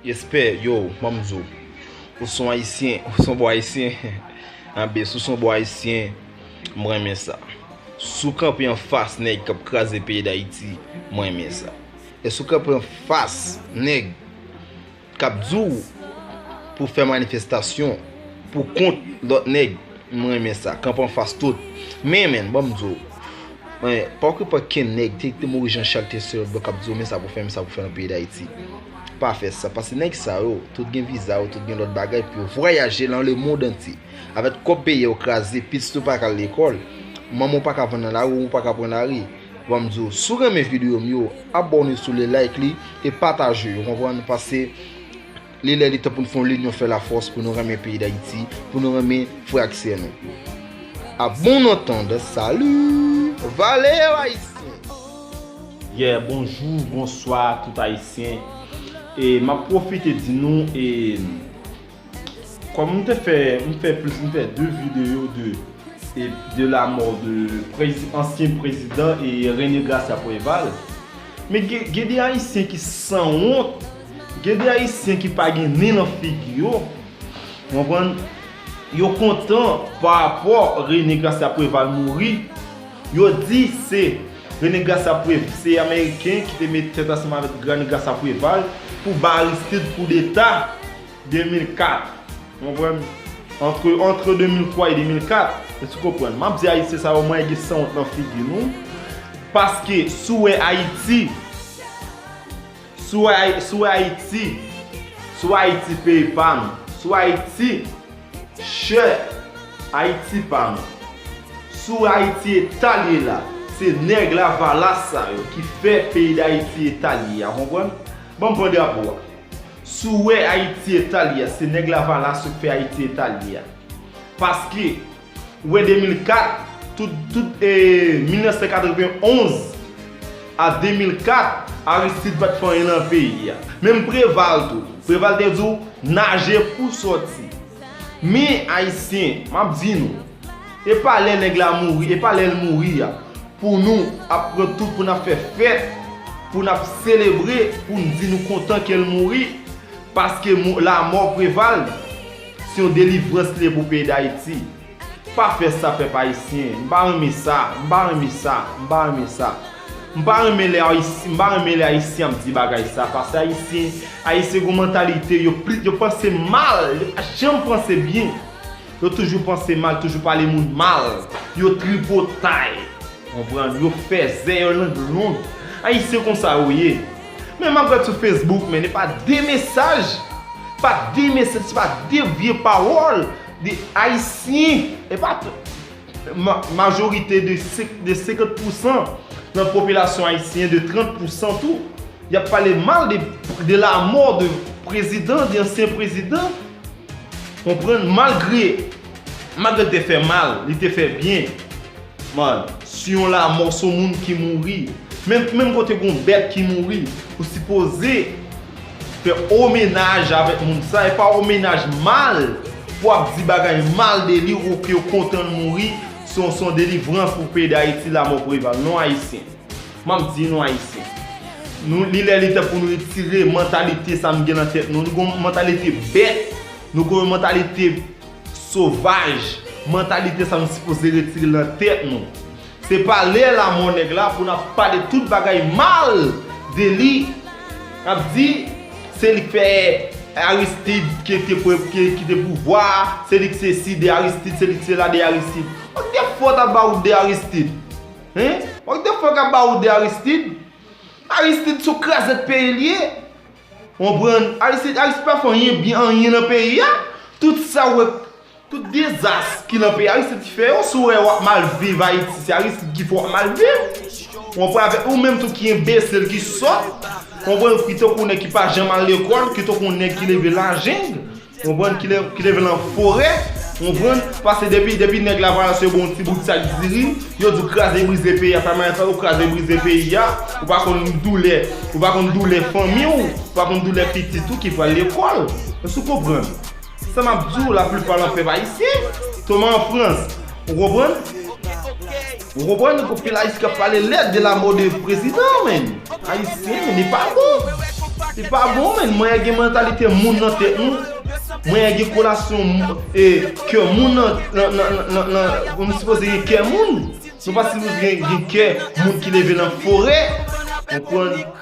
Respè yow mamzo ou son ayisyen ou son bon ayisyen anbe sou son bon ayisyen mwen renmen sa sou kanpe anfas nèg kap kraze peyi dayiti mwen renmen sa esou kanpe anfas nèg kap di w pou fè manifestasyon pou kont lòt nèg m renmen sa kanpe anfas tout men men bon m di w men pa k pa ken nèg te te mouri jan chak te sèl blan kap di w men sa pou fè men sa pou fè nan peyi dayiti pa fè sa paske nèg sa yo tout gen viza yo tout gen lòt bagay pou yo vwayaje lan lemond antye avèk kòb peyi a yo kraze pitit ou pa k al lekòl manman w pa ka vann nan lari ou pa ka pran lari. Banm diw si w renmen video m yo abòne sou li like li e pataje yo konprann paske li lè li tan pou nou fè yon linyon fè lafòs pou nou renmen peyi dayiti pou nou renmen frè ak sè nou a bon antand salut vale yo ayisyen. Yeah bonjou bonswa tout ayisyen e map profite di nou e. Kòm m te fè, m fè plis, m fè 2 videyo de e de la mò de prezi, ansyen prezidan e René Gracia Préval. Men gen, gen de ayisyen ki san wont, gen de ayisyen ki pa gen nen nan figi yo, ou konprann, yo kontan pa rapò René Gracia Préval mouri, yo di se René Gracia Pré, se ameriken ki te mete tèt ansanm avèk René Gracia Préval pou ba Aristide koudeta. 2004 konprann antre antre 2003 e 2004 èske ou konprann map di ayisyen sa yo mwen gen sanwont nan figi nou paske si w wè ayiti si w wè si w wè ayiti si w wè ayiti peyi pa nou si w wè ayiti chè ayiti pa nou si w wè ayiti eta l ye la se nèg lavalas sa yo ki fè peyi dayiti eta l ye a konprann banm pran drapo a Si w wè Ayiti eta li a se nèg lavalas yo k fè Ayiti eta li a. Paske ou wè 2004 tout tout e 1991 a 2004 Aristide pat fè anyen nan peyi a. Menm Preval tou. Preval te di w naje pou w sòti. Men Ayisyen map di nou. Epa lè nèg la mouri epa lèl mouri a pou nou ap pran tout pou nap fè fèt pou nap selebre poun di nou kontan kel mouri paske lamò Preval se yon delivrans liye pou peyi dayiti pa fè sa pèp ayisyen m pa renmen sa m pa renmen sa m pa renmen sa m pa renmen lè m pa renmen lè ayisyen ap di bagay sa paske ayisyen ayisyen gon mantalite yo panse mal yo pa janm panse byen. Yo toujou panse mal, toujou pale moun mal. Yo tripotay. Konprann? Yo fèzè, yon lang long. Ayisyen konsa yo ye. Men map gad sou Facebook men e pa de mesaj, pa de mesaj, se pa de vye pawòl de ayisyen, e pa tout majorite de 50 pousan nan popilasyon ayisyen, de 30 pousan tou, yap pale mal de la mò de prezidan, de ansyen prezidan. Konprann malgre malgre l te fè mal li te fè byen man si yon lamò son moun ki mouri menm kote gon bèt ki mouri ou sipoze fè omenaj avèk moun sa e pa omenaj mal pou ap di bagay mal de li ou ke w kontan l mouri son delivrans pou peyi dayiti lamò preval non ayisyen. Map di nou ayisyen. Nou li lè li tan pou nou retire mantalite sa nou gen nan tèt nou. Nou gen yon mantalite bèt. Nou gen yon mantalite sovaj. Mantalite sa nou sipoze retire nan tèt nou. Se pa lè la mò nèg la pou nap pale tout bagay mal de li. Nap di se li k fè Aristid ki te pou kite pouvwa a. Se li k sesi de Aristid, se li k sela de Aristid. Ou k te fò ta ba wout de Aristid. Hum? What the fuck about the Aristide? Aristide son krazèt peyi li ye. Konprann? Aristide, Aristide pa fè anyen byen, anyen nan peyi a. Tout sa ou wè, tout dezas ki nan peyi a, Aristide ki fè yo. Si ou wè wap mal viv Ayiti, se Aristide ki fè wap mal viv. Konprann? Avèk ou menm tou ki enbesil, ki sòt. Konprann? Ki tankou nèg ki pa janm al lekòl, ki tankou nèg ki leve nan la jungle. Konprann ki leve lan forè konprann pase depi depi nèg la vale se bon ti bout sak diri yo di kraze brize peyi a sa maes la ou kraze brize peyi a ou pa konn doulè ou pa konn doulè fanmi ou ou pa konn doulè pitit ou ki pral lekòl èske ou konprann sa map di w la plipa lan pèp ayisyen tonman an frans ou konprann. Ou konprann nou pou pil ayisyen kap pale lèd de la mort de prezidan menn ayisyen menn li pa bon li pa bon menn mwen gen mantalite moun nan tèt nou mwen gen kolasyon e kè moun nan nan nan nou sipoze gen kè moun nou pa sipoze gen kè moun ki leve nan forè ou konprann.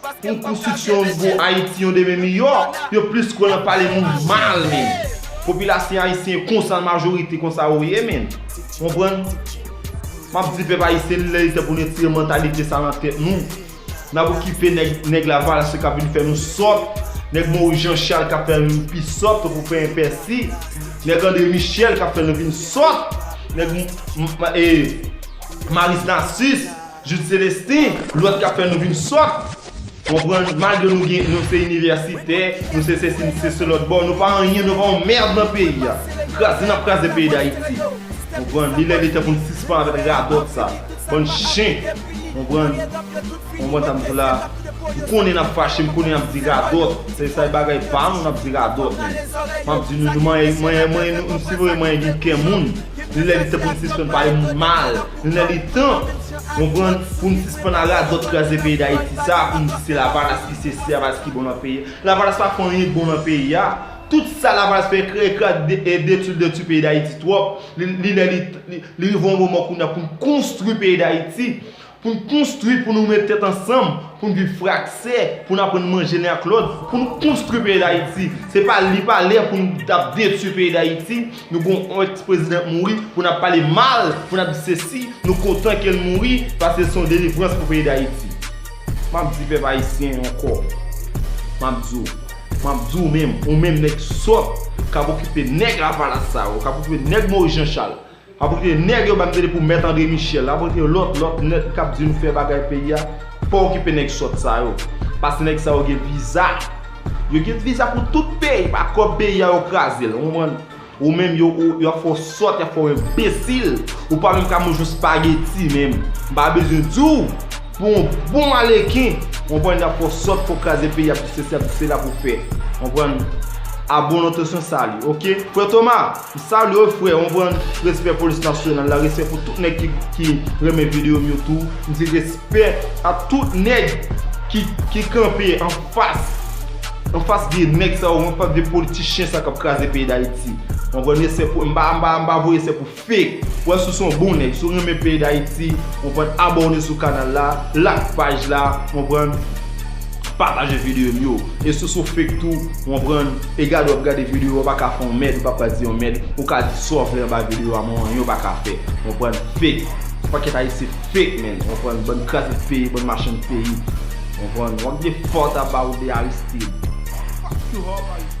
Pou konstriksyon yon nouvo Ayiti, yon demen miyò, yo plis kwè nan pale moun mal menn. Popilasyn ayisyen konsa majorite konsa yo ye menn. Konprann? Map di pèp ayisyen li lè li tan pou n retire mantalite sa nan tèt nou. Nap okipe nèg, nèg lavalasyen kap vin fè nou sòt, nèg Moris Janchal kap fè nou pi sòt tankou pen epèsi, nèg Andre Michel kap fè nou vin sòt, nèg Maris Nasis. Jude Celestin, lòt kap fè nou vin sòt, konprann, malgre nou gen, nou se inivèsitè, nou se sesi, nou se selòt, bon, nou pa anyen, nou pa yon mèrd nan peyi a. Kraze nap kraze peyi Dayiti. Konprann, li lè li tan pou nou sispann avèk radòt sa. Bann chen. Konprann, konprann sa m di w la. M konnen nap fache, m konnen nap di radòt, se sa e bagay pa nou nap di radòt men. Map di nou, nou manyen, manyen, manyen, nou, nou sipoze manyen gen kè moun. Li lè li tan pou nou sispann pale moun mal. Lè li tan, konprann, pou n sispann a radòt kraze peyi Dayiti sa a pou n di se Lavalas ki sesi, Lavalas ki bon nan peyi a. Lavalas pa fè anyen k bon nan peyi a. Tout sa Lavalas fè kreye krak e detwi l detwi peyi Dayiti twòp. Li lè li tan, li rive yon moman kounye a pou n konstwi peyi Dayiti. Pou n konstwi, pou nou met tèt ansanm, pou n viv fraksè, pou n aprann manje len ak lòt, pou n konstwi peyi Dayiti. Se pa, li pa lè pou n ap detwi peyi Dayiti. Nou gon on ex president mouri pou nap pale mal pou nap di sesi nou kontan kel mouri paske son delivrans pou peyi dayiti map di pèp ayisyen ankò map di w map di w menm ou menm nèg sòt kap okipe nèg lavalas sa yo kap okipe nèg moris janchal kap okipe nèg yo banm tande pou mèt andre michel kap okipe lòt lòt nèt kap di nou fè bagay peyi a pa okipe nèg sòt sa yo paske nèg sa yo gen viza. Yo gen visa pou tout peyi pa kob peyi a yo krazel ou konprann ou menm yo ap fè w sòt yap fè w enbesil ou pa menm ka manje yon spageti menm m pa bezwen di w pou yon bon aleken ou konprann yap fè w sòt fè w kraze peyi yap di sesi yap di sela pou w fè ou konprann a bon entensyon sali ok frè Thomas. M salye w frè on prann respè polis nasyonal la respè pou tout nèg ki renmen video m yo tou m di respè a tout nèg ki kanpe anfas anfas vye nèg sa yo anfas vye politichyen sa kap kraze peyi dayiti on prann respè pou m pa m pa voye se pou fake ou wè si w se yon bon nèg si w renmen peyi dayiti on prann abòne sou kanal la like paj la on prann pataje video m yo e si w se yon fake tou. Konprann, e gade wap gade video yo paka fè yon mèd ou pa pral di yon mèd, ou ka di sa w vle anba video a men anyen w paka fè. Konprann, fake. Yon pakèt ayisyen fake menn, konprann, bann kraze peyi, bann machann peyi. Konprann, wap gade fòt a ba ou de Aristide. Fuck you Hope Aristide.